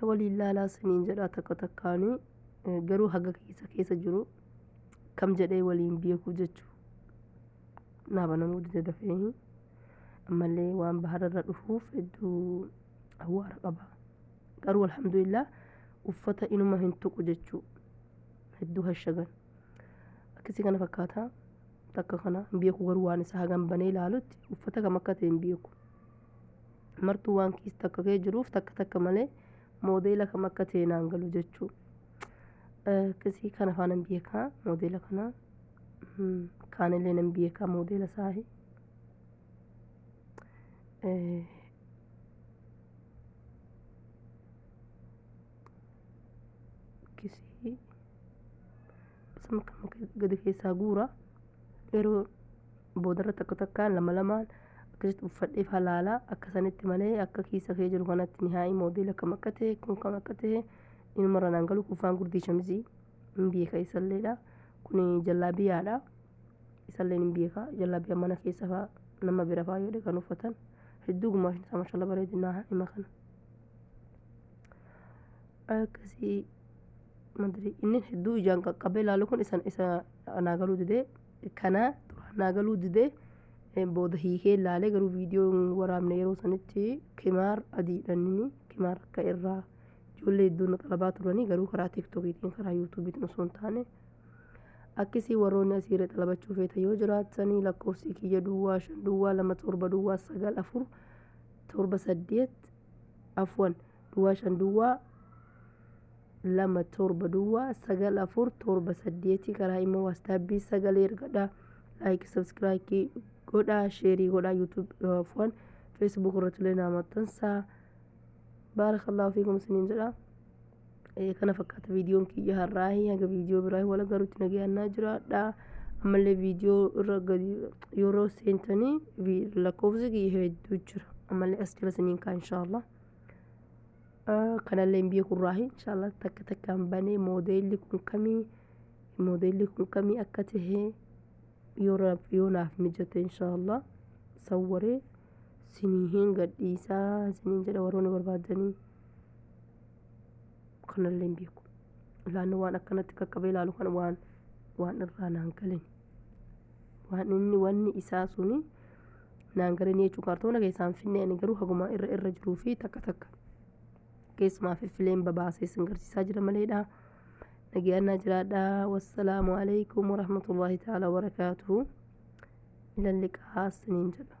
na waliin laalaa siniin jedhaa takka takkaanii eh, garuu haga keessa keessa jiru kam jedhee waliin beekuu jechuu naa banamuu dide dafee ammallee waan bahararra dhufuuf hedduu awwaara qaba garuu alhamdulillah uffata inuma hin tuqu jechuu hedduu hashagan akkasii kana fakkaata takka kana hin beeku garuu waan isaa hagan banee ilaalutti uffata kam akka ta'e hin beeku martuu waan kiis takka kee jiruuf takka takka malee moodeela kam akka ta'e naan galu jechuu kisii kana faa nan beekaa moodeela kana kaanillee nan beekaa moodeela saahi kisii sama kan gadi keessaa guura yeroo boodarra takka takkaan lama lamaan akkasitti uffadhee faa laalaa akka sanitti malee akka kiisa kee jiru kanatti nihaa'ii moodeela kam akka ta'e kun kam akka ta'e inumarra naan galu kuffaan gurdii shamizii hin beeka isalleedha kun jallaabiyaadha isalleen hin beeka jallaabiyaa mana keessa faa nama bira faa yoo dhaqan uffatan hedduu gumaashin isaa mashallah bareedinaa hima kana akkasii madri inni hedduu ijaan qaqqabee laalu kun isa isa naa galuu didee Kana duraan naa galuu dide booda hiikee ilaalee garuu viidiyoo hin waraabne yeroo sanitti kimaar adiidhaan inni kimaar akka irraa ijoollee hedduun na xalabaa turanii garuu karaa tiiktokiitiin karaa yuutuubiitiin osoo hin taane akkisii warroonni asiirra xalabachuu feeta yoo jiraatanii lakkoofsi kiyya duwwaa shan duwwaa lama torba duwwaa sagal afur torba saddeet afwan duwwaa shan duwwaa lama torba duwwaa sagal afur torba saddeeti karaa immoo waastaabbii sagalee ergadhaa laayikii sabskiraayikii godhaa sheerii godhaa yuutuub afwan feesbuuk irratti illee naa maxxansaa baarakallahu fiikum isiniin jedha Eh, kana fakkaata viidiyoon kiyya har'aahi haga viidiyoo biraahi wal garuutti nagayannaa jiraadha ammallee viidiyoo irra gadi yeroo seentanii vi- lakkoofsi kiyya hedduu jira ammallee as jala isiniin kaa inshaallah kanallee hin beeku irraahi inshallah takka takkaan banee moodeelli kun kamii moodeelli kun kamii akka ta'e yoo raaf yoo naaf mijate inshallah sawwaree sinii hin gadhiisaa siniin jedha warroonni barbaadanii kanallee hin beeku laanni waan akkanatti qaqqabee ilaalu kan waan waan irraa naan galin waan inni wanni isaa suni naan galanii jechuun kaartoona keessaan finnee ani garuu haguma irra irra jiruu fi takka takka keessumaa fiffileen babaasee sin garsiisaa jira maleedha. Nageeyannaa jiraadha. Wassalaamu alaikum warahmatullahi ta'ala wabarakaatuhu. Ilalliqaa siniin jedha.